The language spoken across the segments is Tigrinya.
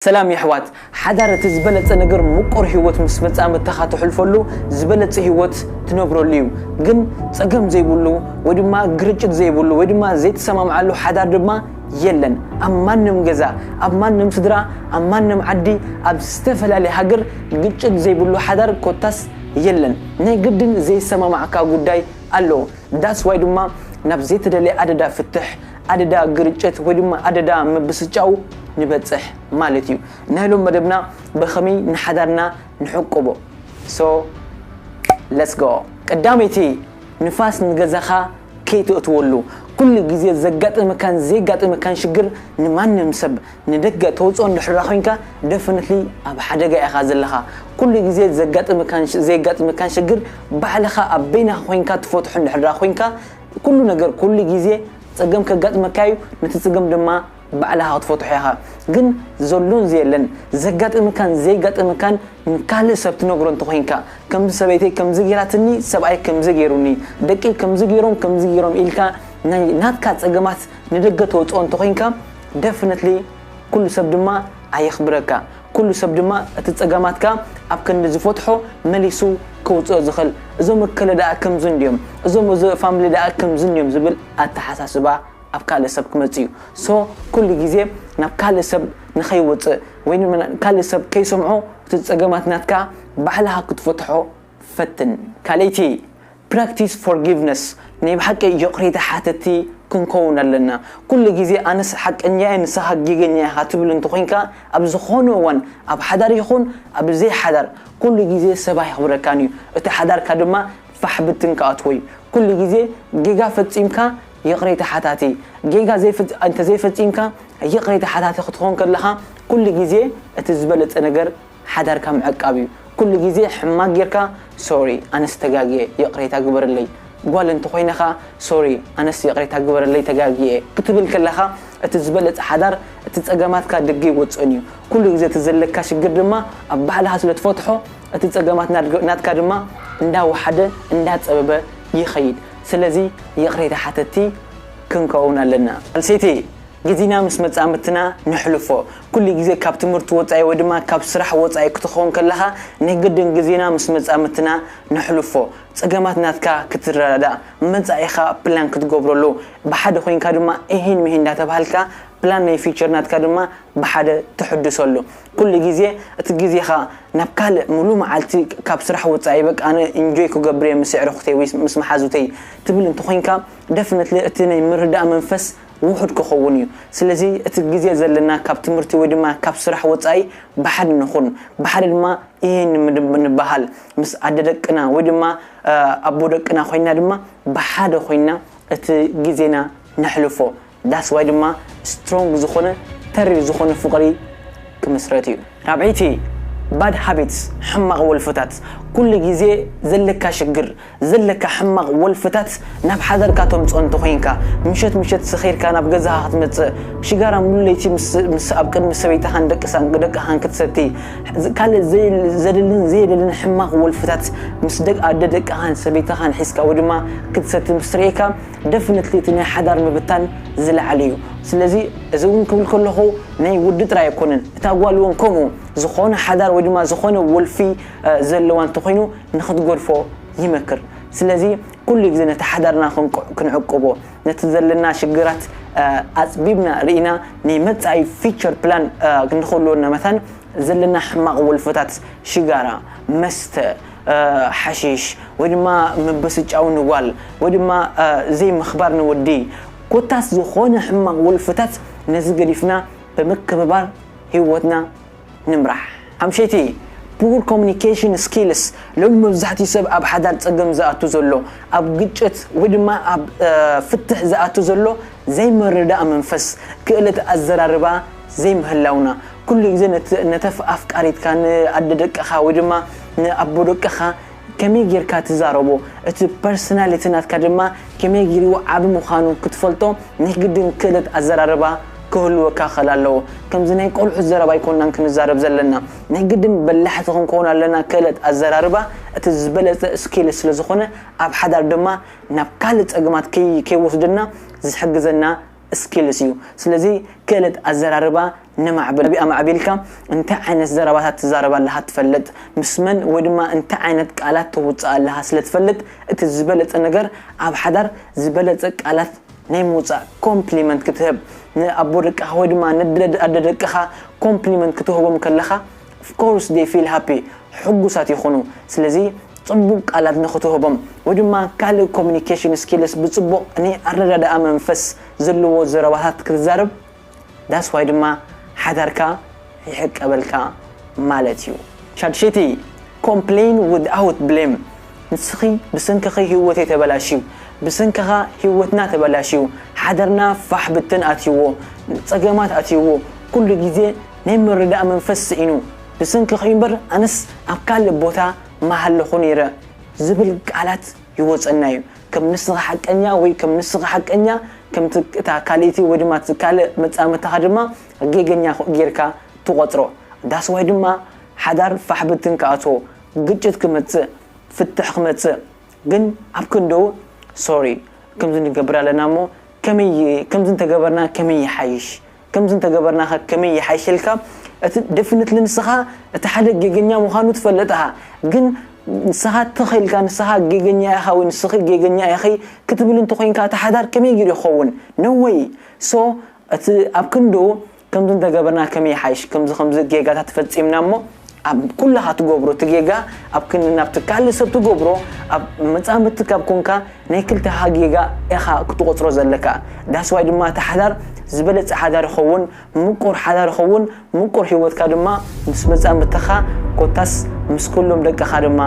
ሰላም የሕዋት ሓዳር እቲ ዝበለጸ ነገር ሙቁር ሂወት ምስ መጻምድትኻ ትሕልፈሉ ዝበለጸ ሂወት ትነብረሉ እዩ ግን ጸገም ዘይብሉ ወይ ድማ ግርጭት ዘይብሉ ወይ ድማ ዘይትሰማምዓሉ ሓዳር ድማ የለን ኣብ ማንም ገዛ ኣብ ማንም ስድራ ኣብ ማንም ዓዲ ኣብ ዝተፈላለየ ሃገር ግጭት ዘይብሉ ሓዳር ኮታስ የለን ናይ ግድን ዘይሰማማዕካ ጉዳይ ኣሎ that's why ድማ ናብ ዘይተደልየ ኣደዳ ፍትሕ ኣደዳ ግርጭት ወይ ድማ ኣደዳ ምብስጫው ንበጽሕ ማለት እዩ። ናይ ሎም መደብና በከመይ ንሓዳርና ንሕቁቦ so let's go ቀዳመይቲ ንፋስ ንገዛኻ ከይተእትወሉ ኩሉ ግዜ ዘጋጥመካን ዘየጋጥመካን ሽግር ንማንም ሰብ ንደገ ተውጽኦ እንድሕራ ኮንካ definitely ኣብ ሓደጋ ኢኻ ዘለኻ ኩሉ ግዜ ዘጋጥመካን ዘየጋጥመካን ሽግር ባዕልኻ ኣብ በይናኻ ኮንካ ትፈትሖ እንድሕራ ኮንካ ኩሉ ነገር ኩሉ ግዜ ጸገም ከጋጥመካ እዩ ነቲ ጽገም ድማ ባዕልኻ ክትፈትሖ ኢኻ ግን ዘሎን ዘየለን ዘጋጥምካን ዘይጋጥምካን ንካልእ ሰብ ትነግሮ እንተኾይንካ ከምዚ ሰበይተይ ከምዚ ጌራትኒ ሰብኣይ ከምዚ ጌሩኒ ደቀይ ከምዚ ጌሮም ከምዚ ጌሮም ኢልካ ናይ ናትካ ጸገማት ንደገ ተውጽኦ እንተኾይንካ ደፍነትሊ ኩሉ ሰብ ድማ ኣየኽብረካ ኩሉ ሰብ ድማ እቲ ጸገማትካ ኣብ ክንዲ ዝፈትሖ መሊሱ ከውጽኦ ዝኽል እዞም እከለ ደኣ ከምዚ እንድዮም እዞም እዚ ፋምሊ ደኣ ከምዚ እንድዮም ዝብል ኣተሓሳስባ ኣብ ካልእ ሰብ ክመጽእ እዩ so ኩሉ ግዜ ናብ ካልእ ሰብ ንኸይወጽእ ወይ ካልእ ሰብ ከይሰምዖ እቲ ጸገማት ናትካ ባዕልኻ ክትፈትሖ ፈትን ካልእቲ Practice Forgiveness ናይ ብሓቂ ይቕሬታ ሓተቲ ክንከውን ኣለና። ኩሉ ግዜ ኣነስ ሓቀኛ እየ ንስኻ ጌገኛ ኢኻ ትብል እንተኾይንካ ኣብ ዝኾነ እዋን ኣብ ሓዳር ይኹን ኣብ ዘይሓዳር ኩሉ ግዜ ሰብ ኣይኽብረካን እዩ እቲ ሓዳርካ ድማ ፋሕ ብትን ክኣትዎ እዩ ኩሉ ግዜ ጌጋ ፈጺምካ ይቕሬታ ሓታቲ ጌጋ እንተዘይፈጺምካ ይቕሬታ ሓታቲ ክትኾን ከለኻ ኩሉ ግዜ እቲ ዝበለጸ ነገር ሓዳርካ ምዕቃብ እዩ ኩሉ ግዜ ሕማቅ ጌርካ ሶሪ ኣነስ ተጋግየ ይቅሬታ ግበርለይ ጓል እንተኮይነ ከኣ ሶሪ ኣነስ ይቅሬታ ግበረለይ ተጋግየ ክትብል ከለካ እቲ ዝበለጸ ሓዳር እቲ ጸገማትካ ድግ ኣይወጽእን እዩ ኩሉ ግዜ እቲ ዘለካ ሽግር ድማ ኣብ ባዕልካ ስለ ትፈትሖ እቲ ጸገማት ናትካ ድማ እንዳ ወሓደ እንዳ ጸበበ ይከይድ ስለዚ ይቅሬታ ሓተቲ ክንከውን ኣለና። ጓል ኣንሰይቲ ጊዚና ምስ መጻምድትና ነሕልፎ። ኩሉ ጊዜ ካብ ትምህርቲ ወጻኢ ወይ ድማ ካብ ስራሕ ወጻኢ ክትኾን ከለኻ ንግድን ጊዜና ምስ መጻምድትና ነሕልፎ። ጸገማት ናትካ ክትረዳዳእ፣ መጻኢኻ ፕላን ክትገብረሉ፣ ብሓደ ኮይንካ ድማ እሂን ምሂን እንዳተባሃልካ ፕላን ናይ ፊቸር ናትካ ድማ ብሓደ ተሕድሰሉ። ኩሉ ጊዜ እቲ ጊዜኻ ናብ ካልእ ምሉእ መዓልቲ ካብ ስራሕ ወጻኢ በቃ ኣነ ኢንጆይ ክገብር'የ ምስ የዕርኹተይ ወይ ምስ መሓዙተይ ትብል እንተኾይንካ ደፍነትሊ እቲ ናይ ምርዳእ መንፈስ ውሑድ ክኸውን እዩ። ስለዚ እቲ ግዜ ዘለና ካብ ትምህርቲ ወይ ድማ ካብ ስራሕ ወጻኢ ብሓደ ንኹን። ብሓደ ድማ እየ ንበሃል። ምስ ኣደ ደቅና ወይ ድማ ኣቦ ደቅና ኮይንና ድማ ብሓደ ኮይንና እቲ ግዜና ነሕልፎ። That's why ድማ strong ዝኾነ ተሪር ዝኾነ ፍቕሪ ክምስረት እዩ። ራብዐይቲ፣ Bad Habits፣ ሕማቕ ወልፍታት፣ ኩሉ ግዜ ዘለካ ሽግር፣ ዘለካ ሕማቅ ወልፍታት ናብ ሓዳርካ ተምጽኦ እንተ ኮንካ ምሸት ምሸት ሰኺርካ ናብ ገዛካ ክትመጽእ ሽጋራ ሙሉ ለይቲ ምስ ኣብ ቅድሚ ሰበይታካን ደቅሳን ደቅካን ክትሰቲ ካልእ ዘድልን ዘየደልን ሕማቅ ወልፍታት ምስ ደቅ ኣደ ደቅካን ሰበይታካን ሒዝካ ወይ ድማ ክትሰቲ ምስ ርኤካ ደፍነትሊ እቲ ናይ ሓዳር ምብታን ዝለዓል እዩ ስለዚ እዚ ውን ክብል ከለኩ ናይ ወዲ ጥራይ ኣይኮነን እታ ጓል ውን ከምኡ ዝኮነ ሓዳር ወይ ድማ ዝኮነ ወልፊ ዘለዋ እንተ ኮይኑ ንኽትጎድፎ ይመክር። ስለዚ ኩሉ ግዜ ነቲ ሓዳርና ክንቁ ክንዕቅቦ፣ ነቲ ዘለና ሽግራት ኣጽቢብና ርኢና ናይ መጻኢ፣ Future Plan፣ ንኽህልወና መታን ዘለና ሕማቕ ወልፍታት ሽጋራ፣ መስተ፣ ሓሺሽ፣ ወይ ድማ ምብስጫው ንጓል ወይ ድማ ዘይምኽባር ንወዲ ኮታስ ዝኾነ ሕማቕ ወልፍታት ነዚ ገዲፍና ብምክብባር ህይወትና ንምራሕ ኣምሸቲ Poor Communication Skills ሎሚ መብዛሕትኡ ሰብ ኣብ ሓዳር ጸገም ዝኣቱ ዘሎ ኣብ ግጭት ወይ ድማ ኣብ ፍትሕ ዝኣቱ ዘሎ ዘይምርዳእ መንፈስ ክእለት ኣዘራርባ ዘይምህላውና ኩሉ ግዜ ነተፍ ኣፍቃሪትካ ን ኣደ ደቅኻ ወይ ድማ ን ኣቦ ደቅኻ ከመይ ጌርካ ትዛረቦ እቲ ፐርሰናሊቲ ናትካ ድማ ከመይ ጊሩ ዓቢ ምኻኑ ክትፈልጦ ናይ ግድን ክእለት ኣዘራርባ ክህልወካ ክኸል ኣለዎ ከምዚ ናይ ቆልዑት ዘረባ ኣይኮናን ክንዛረብ ዘለና ናይ ግድን በላሕቲ ክንኮን ኣለና ክእለት ኣዘራርባ እቲ ዝበለጸ ስኪል ስለ ዝኾነ ኣብ ሓዳር ድማ ናብ ካልእ ጸገማት ከይወስደና ዝሕግዘና Skills፣ እዩ። ስለዚ ክእለት ኣዘራርባ ነማዕብል። ኣማዕቢልካ እንታይ ዓይነት ዘረባታት ትዛረብ ኣለኻ ትፈልጥ፣ ምስ መን ወይ ድማ እንታይ ዓይነት ቃላት ተውጽእ ኣለኻ ስለ ትፈልጥ እቲ ዝበለጸ ነገር ኣብ ሓዳር ዝበለጸ ቃላት ናይ ምውጻእ ኮምፕሊመንት ክትህብ ንኣቦ ደቅኻ ወይ ድማ ንኣደ ደቅኻ ኮምፕሊመንት ክትህቦም ከለኻ Of course they feel happy ሕጉሳት ይኹኑ ስለዚ ጽቡቅ ቃላት ንኽትህቦም ወይ ድማ ካልእ communication skills ብጽቡቅ ናይ ኣረዳድኣ መንፈስ ዘለዎ ዘረባታት ክትዛረብ that's why ድማ ሓዳርካ ይሕቀበልካ ማለት እዩ። ሻድሸይቲ Complain without blame ንስኺ ብሰንክኺ ሂወተይ ተበላሽዩ ብሰንክኻ ሂወትና ተበላሽዩ ሓዳርና ፋሕ ብትን ኣትይዎ ጸገማት ኣትይዎ ኩሉ ግዜ ናይ ምርዳእ መንፈስ ስኢኑ ብሰንክኺ'ዩ እምበር ኣነስ ኣብ ካልእ ቦታ ምሃለኹ ነይረ ዝብል ቃላት ይወጸና'ዩ። ከም ንስኻ ሓቀኛ ወይ ከም ንስኺ ሓቀኛ ከምቲ እታ ካልእቲ ወይ ድማ እቲ ካልእ መጻምድትኻ ድማ ጌገኛ ጌርካ ትቖጽሮ። That's why ድማ ሓዳር ፋሕ ብትን ክኣትዎ፣ ግጭት ክመጽእ፣ ፍትሕ ክመጽእ ግን ኣብ ክንድኡ Sorry ከምዚ ንገብር ኣለና'ሞ ከመይ ከምዚ እንተገበርና ከመይ ይሓይሽ ከምዚ እንተገበርናኸ ከመይ ይሓይሽ ኢልካ እቲ ደፍነትሊ ንስኻ እቲ ሓደ ጌገኛ ምዃኑ ትፈልጥ እኻ ግን ንስኻ ትኽ ኢልካ ንስኻ ጌገኛ ኢኻ ወይ ንስኺ ጌገኛ ኢኺ ክትብል እንተኾይንካ እቲ ሓዳር ከመይ ጌሩ ይኸውን no way so እቲ ኣብ ክንድኡ ከምዚ እንተገበርና ከመይ ይሓይሽ ከምዚ ከምዚ ጌጋታት ፈጺምና እሞ ኣብ ኩላኻ ትገብሮ እቲ ጌጋ ኣብ ክንዲ ናብቲ ካልእ ሰብ ትገብሮ ኣብ መጻምድቲ ካብ ኮንካ ናይ ክልተኻ ጌጋ ኢኻ ክትቖጽሮ ዘለካ that's why ድማ እቲ ሓዳር ዝበለጸ ሓዳር ይኸውን ምቁር ሓዳር ይኸውን ምቁር ሂወትካ ድማ ምስ መጻምድትኻ ኮታስ ምስ ኩሎም ደቅኻ ድማ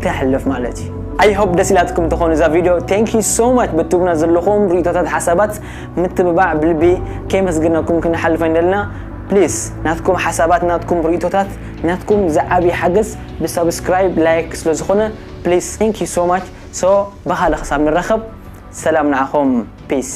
ተሕልፍ ማለት እዩ ኣይ ሆፕ ደስ ኢላትኩም ትኾኑ እዛ ቪድዮ ቴንክ ዩ ሶ ማች ብትብና ዘለኹም ርእቶታት ሓሳባት ምትብባዕ ብልቢ ከየመስግናኩም ክንሓልፍ ኣይንደልና ፕሊስ ናትኩም ሓሳባት ናትኩም ሪኢቶታት ናትኩም ዝዓብይ ሓገዝ ብ ሳብስክራይብ ላይክ ስለ ዝኮነ ፕሊስ thank you so much so ብካልእ ክሳብ ንራከብ ሰላም ንዓኩም peace።